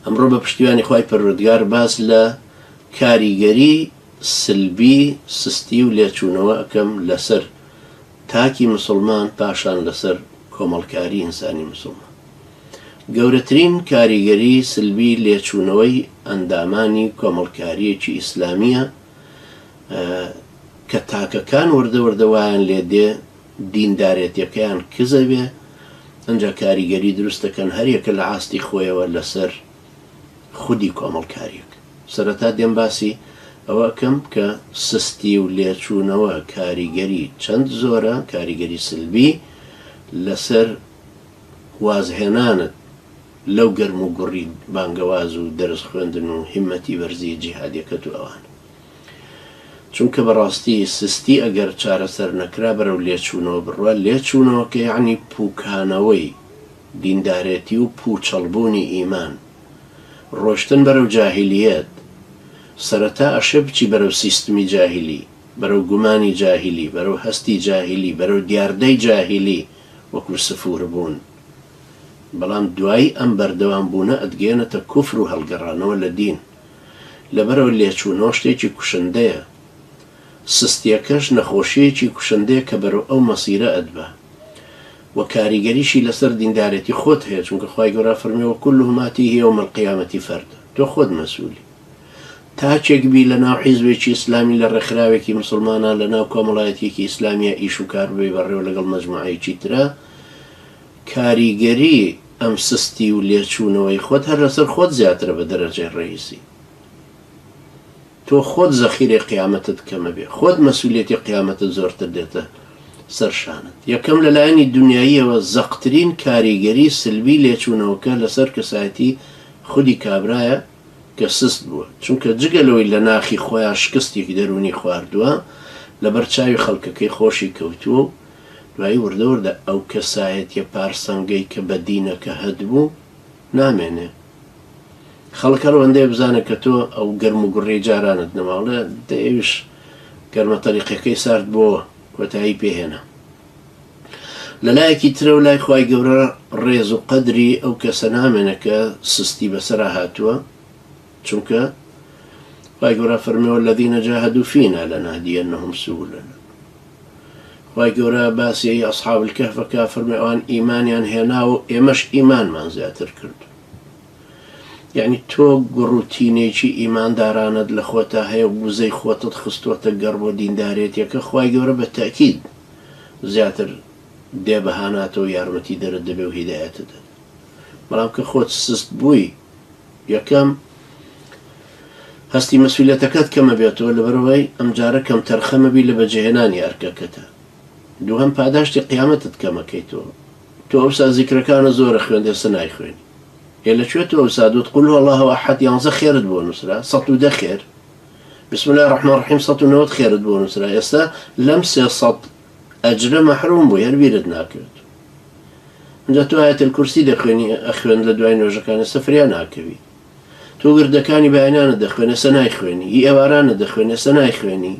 ئەمڕۆ بە پشتیوانی خوای پەروەردگار باس لە کاریگەری سلبی سستی و لێچوونەوە ئەکەم لەسەر تاکی مسلمان پاشان لەسەر کۆمەڵکاری ئینسانی مسلمان گەورەترین کاریگەری سلبی لێچوونەوەی ئەندامانی کۆمەڵکاریەکی ئیسلامیە کە تاکەکان وردە وردەوایان لێ دێ دیندارێتیەکەیان کزە بێ ئەنجا کاریگەری دروست دەکەن هەریەکە لە ئاستی خۆیەوە لەسەر خودی کۆمەڵکاریەک سەرەتا دێم باسی ئەوە ئەکەم کە سستی و لێچوونەوە کاریگەری چەند زۆرە کاریگەری سلبی لەسەر وازهێنانت لەو گەرموگوڕی بانگەواز و دەرس خوێندن و هیمەتی بەرزی جیهادیەکەت و ئەوانە. چونکە بەڕاستی سستی ئەگەر چارەسەر نەکرا بەرەو لێچوونەوە بڕوا، لێچوونەوە کە یەعنی پووکانەوەی دیندارێتی و پووچەڵ بوونی ئیمان، ڕۆشتن بەرەو جاهیلیەت، سەرەتا ئەشێ بچی بەرەو سیستمی جاهیلی، بەرەو گومانی جاهیلی، بەرەو هەستی جاهیلی، بەرەو دیاردەی جاهیلی وەکوو سفوور بوون، بەڵام دوایی ئەم بەردەوام بوونە ئەتگەیەنێتە کوفر و هەڵگەڕانەوە لە دین. لەبەرئەوەی لێچوونەوە شتێکی کوشندەیە، سستیەکەش نەخۆشیەکی کوشندەیە کە بەرەو ئەو مەسیرە ئەتبا و کاریگەریشی لەسەر دیندارێتی خۆت هەیە چونکە خوای گەورە فەرمووی وکلهم ماتیه یوم القیامە فردا تۆ خۆت مەسولی تاکێک بی لەناو حیزبێکی ئیسلامی لە ڕێکخراوێکی مسوڵمانان لەناو کۆمەڵایەتیەکی ئیسلامیە ئیش و کار ببەی بەڕێوە لەگەڵ مەجموعەیەکی ترا کاریگەری ئەم سستی و لێچوونەوەی خۆت هەر لەسەر خۆت زیاترە بە دەرەجەی ڕەییسی تۆ خۆت زەخیرەی قیامەتت کەمە بێ خۆت مەسولیەتی قیامەتت زۆرتر دێتە سەر شانت یەکەم لە لایەنی دونیاییەوە زەقترین کاریگەری سلبی لێچوونەوەکە لەسەر کەسایەتی خودی کابرایە کە سست بووە چونکە جگە لەوەی لە ناخی خۆیا شکستێکی دەروونی خواردووە لەبەر چاوی خەڵکەکەی خۆشی کەوتووە و دوایی وردە وردە ئەو کەسایەتیە پارسەنگەی کە بە دینەکە هەتبوو نامێنێ خەڵک هەر ئەوەندەیە بزانێ کە تۆ ئەو گەرم و گوڕیەی جارانت نەما ئەڵێ دە ئێویش گەرمە تەریقەکەی سارد بۆوە کۆتایی پێ هێنا لە لایەکی ترە و لای خی گەورە ڕێز و قەدری ئەو کەسە نامێنە کە سستی بەسەرا هاتووە چونکە خوای گەورە فەرمی والذین جاهدوا فینا لنهدینهم سبلنا خوای گەورە باسی ئەصحاب الکهفەکە فەرمی ئەوان ئیمانیان هێنا و ئێمەش ئیمانمان زیاتر کرد یعنی تۆ گوڕوتینێکی ئیماندارانت لە خۆتا هەیە و وزەی خۆتت خستوەتە گەڕ بۆ دیندارێتیەکە خی گەورە بە تاکید زیاتر دێ بەهاناتەوە یارمەتی دەرت دەبێ و هیدایەتە دەن بەڵام کە خۆت سست بووی یەکەم، هەستی مەسئولیەتەکەت کەمە بێتەوە لەبەرئەوەی ئەمجارە کەمتەرخەمەبی لە بەجێهێنانی ئەرکەکەتا. دووهەم، پاداشتی قیامەتت کەمەکەیتەوە. تۆ ئەوسا زیکرەکانت زۆرە خوێندی ئێستا نایخوێنی. ئێ لەکوێ تۆ ئەوسا دوت قل هو اللە احد یانزە خێرت بۆ نوسرا سەد و دە خێر، بسم اللە الرحمن الرحیم سەد و نەوەد خێرت بۆ نوسرا ئێستا لەم سێ سەد ئەجرە مەحروم بووی هەر بیرت ناکرد جا تۆ ئایەت الکرسی دەخوێنی ئەخوێن لە دوای نوێژەکانی سە فریا ناکەوی تۆ وردەکانی بەیانانە دەخوێنێ سە نایخوێنی هی ئێوارانە دەخوێنێ سە نایخوێنی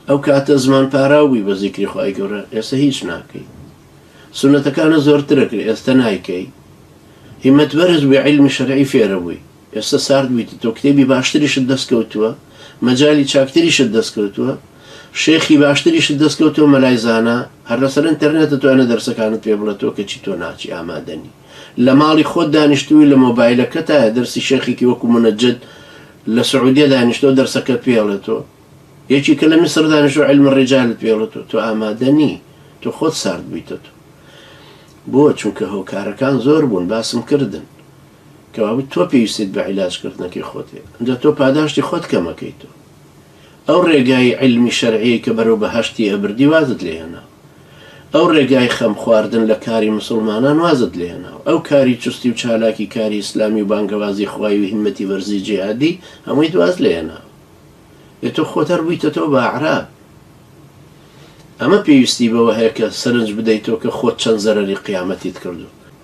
ئەو کاتە زمان پاراو بووی بە زیکری خوای گەورە ئێستا هیچ ناکەی سونەتەکانە زۆرترە کرد ئێستا نایکەی هیمەت بەرز بووی عیلمی شەرعی فێرە بووی ئێستا سارد بوویتە تۆ کتێبی باشتریشت دەست کەوتووە مەجالی چاکتریشت دەست کەوتووە شێخی باشتریشت دەست کەوتووە مەلای زانا هەر لەسەر ئینتەرنێتە تۆ ئەنە دەرسەکانت پێ بڵێ تۆ کەچی تۆ ناچی ئامادەنی لە ماڵی خۆت دانیشتووی لە مۆبایلەکەتایە دەرسی شێخێکی وەکو منەجد لە سعودیە دانیشتۆ دەرسەکەت پێ ئەڵێ تۆ یەکی کە لە میسر دانیشتۆ علم الرجالت پێ ئەڵێ تۆ تۆ ئامادە نی تۆ خۆت سارد بوویتە تۆ بۆ چونکە هۆکارەکان زۆر بوون باسم کردن کەوابوو تۆ پێویستیت بە عیلاج کردنەکەی خۆتە ئینجا تۆ پاداشتی خۆت کەمەکەیتەوە ئەو ڕێگای عیلمی شەرعیەی کە بەرەو بەهەشتی ئەبردی وازت لێ هێناوە ئەو ڕێگای خەم خواردن لە کاری مسوڵمانان وازت لێ هێناوە ئەو کاری چوستی و چالاکی کاری ئیسلامی و بانگەوازی خوای و هیمەتی وەرزی جیهادی هەموویت واز لێ هێناوە ئێ تۆ خۆت هەر بوویتەتەوە بە ئەعراب ئەمە پێویستی بەوە هەیە کە سەرنج بدەیتەوە کە خۆت چەند زەرەری قیامەتیت کردووە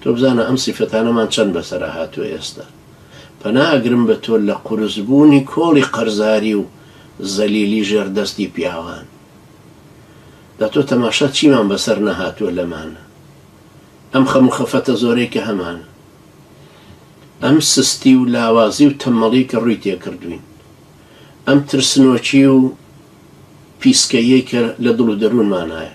تۆ بزانە ئەم سیفەتانەمان چەند بەسەرا هاتووە ئێستا پەنا ئەگرم بە تۆ لە قورس بوونی کۆڵی قەرزاری و زەلیلی ژێر دەستی پیاوان جا تۆ تەماشا چیمان بەسەر نەهاتووە لەمانە ئەم خەم و خەفەتە زۆرەی کە هەمانە ئەم سستی و لاوازی و تەمەڵی کە ڕووی تێکردوین ئەم ترسنۆکی و پیسکەیەی کە لە دڵ و دەروونمانایە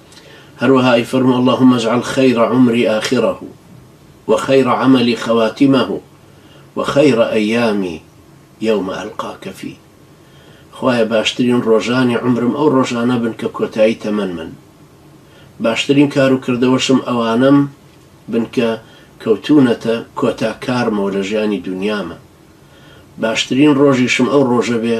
هەروەها ئەیفەرموو، اللهم اجعل خیر عمری آخره و خیر عملی خواتمه و خیر ایامی یوم القاک فیه، خوایە باشترین ڕۆژانی عومرم ئەو ڕۆژانە بن کە کۆتایی تەمەنمن، باشترین کار و کردەوەشم ئەوانەم بن کە کەوتوونەتە کۆتا کارمەوە لە ژیانی دونیامە، باشترین ڕۆژیشم ئەو ڕۆژە بێ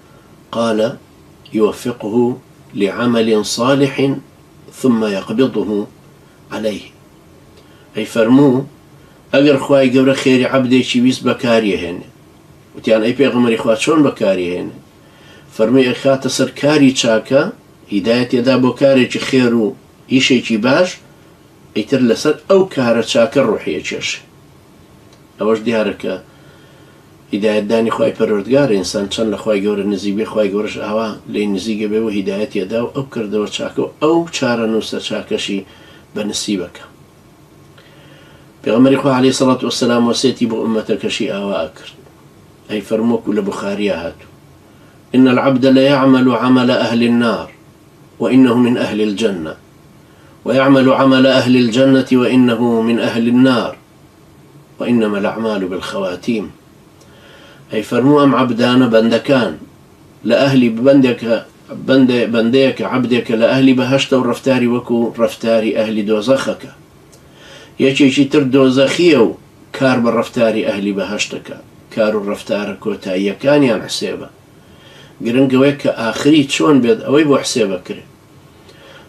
قال يوفقه لعمل صالح ثم يقبضه عليه ئەی فەرموو ئەگەر خوای گەورە خێری عەبدێکی ویست بەکاریەهێنێ وتیان ئەی پێغەمەری خوا چۆن بەکاریهێنێ فەرمی ئەخاتە سەر کاری چاکە هیدایە تێدا بۆ کارێکی خێر و ئیشێکی باش ئیتر لەسەر ئەو کارە چاکە ڕوحیە کێش ئەوەش دیارە کە هیدایەت دانی خوای پەروەردگارە ئینسان چەند لە خوای گەورە نزیک بێ خوای گەورەش ئاوا لێی نزیکە بێ و هیدایەتی ئەدا و ئەو کردەوە چاکە و ئەو چارەنووسە چاکەشی بە نسیبەکە پێغەمبەری خوا علیه سەڵات وسلام وەسێتی بۆ ئومەتەکەشی ئاوا ئەکرد ئەی فەرمۆکو لە بخاریا هاتو إن العبد ليعمل عمل أهل النار وإنه من أهل الجنة ویعمل عمل اهل الجنە وانه من اهل النار وانما الاعمال بالخواتیم ئەی فەرموو ئەم عەبدانە بەندەکان لە ئەهلی بەندێکە بەندێ بەندەیەکە عەبدێکە لە ئەهلی بەهەشتە و ڕەفتاری وەکو ڕەفتاری ئەهلی دۆزەخەکە یەکێکی تر دۆزەخیە و کار بە ڕەفتاری ئەهلی بەهەشتەکە کار و ڕەفتارە کۆتاییەکانیان حسێبە گرنگەوەیە کە ئاخری چۆن بێت ئەوەی بۆ حسێبەکرێت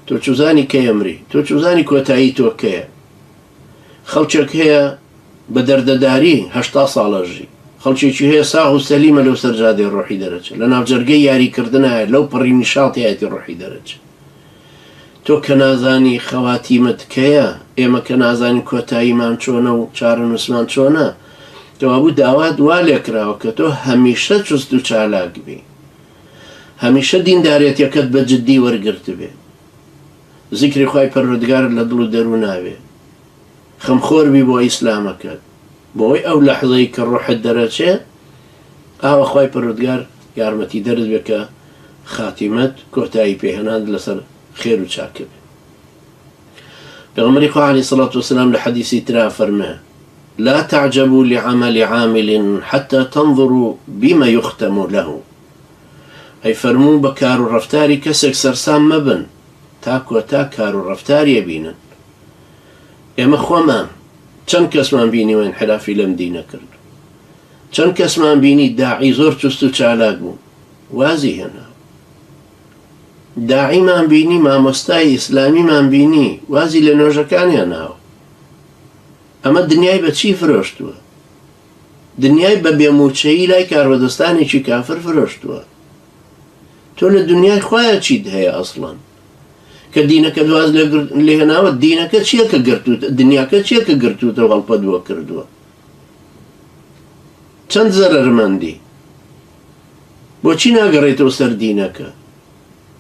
تۆ چوزانی کەی ئەمری؟ تۆ چوزانی کۆتایی تۆ کەیە؟ خەڵکێک هەیە بە دەردەداری هەشتا ساڵ ئەژی، خەڵکێکی هەیە ساغ و سەلیمە لەو سەر جادەی ڕۆحی دەرەچێ، لە ناوجەرگەی یاری کردنایە لەو پەڕی نیشاطیایەتی ڕۆحی دەرەچێ. تۆ کە نازانی خەواتیمت کەیە، ئێمە کە نازانین کۆتاییمان چۆنە و چارەنووسمان چۆنە، کەوابوو داوات وا لێکراوە کە تۆ هەمیشە چوست و چالاک بی. هەمیشە دیندارێتیەکەت بە جدی وەرگرتبێ زیکری خوای پەروەردگارت لە دڵ و دەرونا بێ خەم خۆر بی بۆ ئیسلامەکەت بۆی ئەو لەحزەی کە ڕوحت دەرەچێ ئاوە خوای پەروەردگار یارمەتی دەرت بێ کە خاتیمەت کۆتایی پێ هێنانت لەسەر خێر و چاکە بێ. پێغەمبەری خوا علیە سڵات وسلام لە حەدیسی ترا فەرمێ لا تعجبوا لعمل عامل حتى تنظروا بما يختم له ئەی فەرموو بە کار و ڕفتاری کەسێک سەرسام مەبن تا کۆتا کار و ڕفتاریە بینن ئێمە خۆمان چەند کەسمان بینی وێن حرافی لەم دینە کرد چەند کەسمان بینی داعی زۆر چست و چالاک بوو وازی هێنا داعیمان بینی مامۆستای ئیسلامیمان بینی وازی لە نۆژەکانیان ناوە ئەمە دنیای بە چی فرۆشتووە دنیای بە بێموچەیی لای کاربەدەستانێکی کافر فرۆشتووە تۆ لە دنیای خۆیان چیت هەیە ئەسڵەن کە دینەکە دواز لێناوە دینەکە چییە کە گرتووت دنیاکە چییە کە گرتووتە هەڵپە دووە کردووە چەند زەرمەندی بۆچی ناگەڕێیتەوە سەر دینەکە؟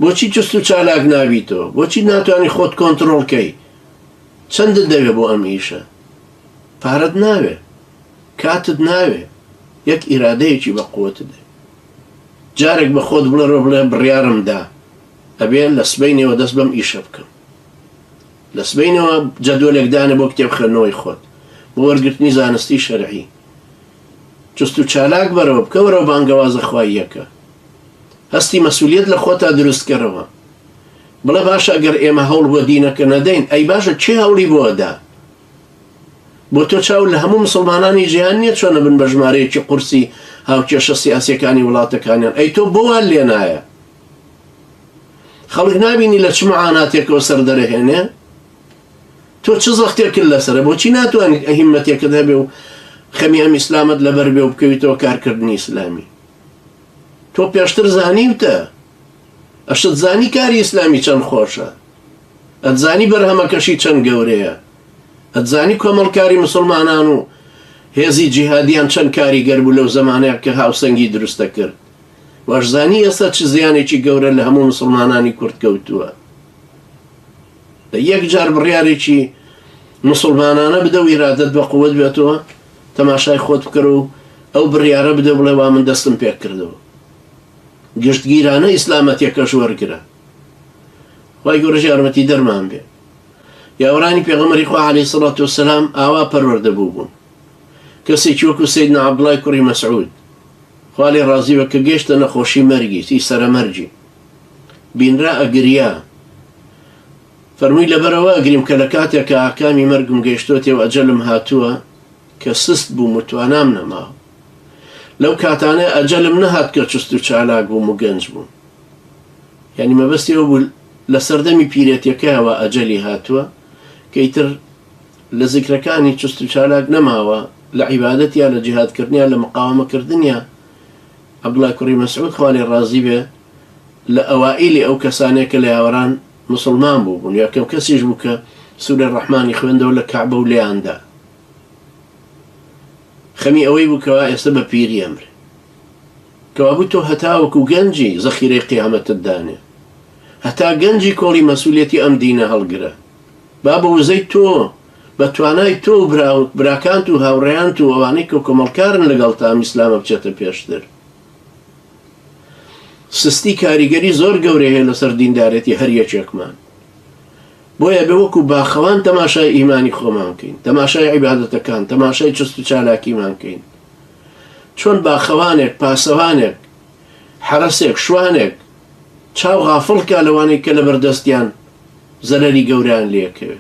بۆچی چوست و چالاک نابیتەوە؟ بۆچی ناتوانی خۆت کۆنتڕۆڵ کەی؟ چەندت دەوێ بۆ ئەم ئیشە؟ پارەت ناوێ. کاتت ناوێ. یەک ئیرادەیەکی بە قووتت دەوێ. جارێک بە خۆت بڵێ بڵێ بڕیارم دا. ئەبێ لە سبەینێوە دەست بەم ئیشە بکەم. لە سبەینێوە جەدوەلێک دانێ بۆ کتێب خوێندنەوەی خۆت. بۆ وەرگرتنی زانستی شەرعی. چست و چالاک بەرەوە، بکەوەرەوە بانگەوازە خواییەکە. هەستی مەسولیەت لە خۆتا دروست کەرەوە. بڵێ باشە ئەگەر ئێمە هەوڵ بۆ دینەکە نەدەین، ئەی باشە کێ هەوڵی بۆ ئەدا؟ بۆ تۆ چاوت لە هەموو مسوڵمانانی جیهان نیە چۆن ئەبن بە ژمارەیەکی قورسی هاوکێشە سیاسیەکانی وڵاتەکانیان؟ ئەی تۆ بۆ وات لێ نایە؟ خەڵک نابینی لە چ معاناتێکەوە سەردەرەهێنێ؟ تۆ چ زەختێکت لەسەرە بۆچی ناتوانیت ئە هیمەتێکت هەبێ و خەمی ئەم ئیسلامەت لەبەر بێ و بکەویتەوە کارکردنی ئیسلامی تۆ پێشتر زانیوتە ئەشت زانی کاری ئیسلامی چەند خۆشە ئەتزانی بەرهەمەکەشی چەند گەورەیە ئەتزانی کۆمەڵکاری مسلمانان و هێزی جیهادیان چەند کاریگەر بوو لەو زمانەیە کە هاوسەنگی دروستە کرد وەشزانی ئێستا چ زیانێکی گەورە لە هەموو مسلمانانی کورد کەوتووە یەک جار بڕیارێکی موسڵمانانە بدە و ئیرادەت بە قوت بێتەوە، تەماشای خۆت بکەرە و ئەو بڕیارە بدە و بڵێ وا من دەستم پێک کردەوە. گشتگیرانە ئیسلامەتێکەش وەرگرە. خوای گەورەش یارمەتیدەرمان بێ. پیاوەرانی پێغەمبەری خوا عەلەیهی سەڵات وەسەلام ئاوا پەروەردە بووبوون. کەسێکی وەکو سەیدنا عەبدوڵڵای کوڕی مەسعود، خوا لێ ڕازی بێ، کە گەیشتە نەخۆشی مەرگی، سی سەرەمەرگی، بینرا ئەگریا. فەرمووی لەبەرئەوە ئەگریم کە لە کاتێک کە ئاکامی مەرگم گەیشتۆتێ و ئەجەلم هاتووە کە سست بووم و توانام نەماوە. لەو کاتانەی ئەجەلم نەهات کە چست و چالاک بووم و گەنج بووم. یانی مەبەستی ئەوە بوو لە سەردەمی پیرێتیەکەیەوە ئەجەلی هاتووە کە ئیتر لە زیکرەکانی چست و چالاک نەماوە، لە عیبادەتیا، لە جیهادکردنیا، لە مقاوەمەکردنیا، عەبدوڵای کوڕی مەسعود خوا لێ ڕازی بێ لە ئەوائیلی ئەو کەسانەیە کە لە یاوەران موسڵمان بووبوون، یەکەم کەسیش بوو کە سورەی ڕەحمانی خوێندەوە لە کەعبە و لێیان دا. خەمی ئەوەی بوو کەوا ئێستە بە پیری ئەمرێ. کەوابوو تۆ هەتاوەکو گەنجی زەخیرەی قیامەتت دانێ. هەتا گەنجی کۆڵی مەسئولیەتی ئەم دینە هەڵگرە. با بە وزەی تۆ، بە توانای تۆ و برا و براکانت و هاوڕێیانت و ئەوانەی کە کۆمەڵکارن لەگەڵتا ئەم ئیسلامە بچێتە پێشتر. سستی کاریگەری زۆر گەورەی هەیە لەسەر دیندارێتی هەر یەکێکمان. بۆیە ئەبێ وەکو باخەوان تەماشای ئیمانی خۆمان بکەین، تەماشای عیبادەتەکان، تەماشای چست و چالاکیمان بکەین. چۆن باخەوانێک، پاسەوانێک، حەرەسێک، شوانێک چاو غافڵ کا لەوانەی کە لەبەردەستیان، زەرەری گەورەیان لێکەوێ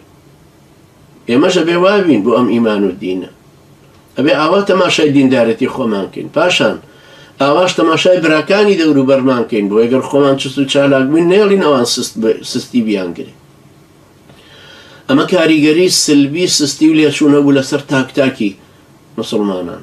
ئێمەش ئەبێ وابین بۆ ئەم ئیمان و دینە ئەبێ ئاوا تەماشای دیندارەتی خۆمان کەین پاشان ئاواش تەماشای براکانی دەورو بەرمان کەین بۆ ئەگەر خۆمان چست و چالاک بووین نێڵین ئەوان سستی بیانگرێ ئەمە کاریگەری سلبی سستی و لێچوونە بوو لەسەر تاکتاکی مسلمانان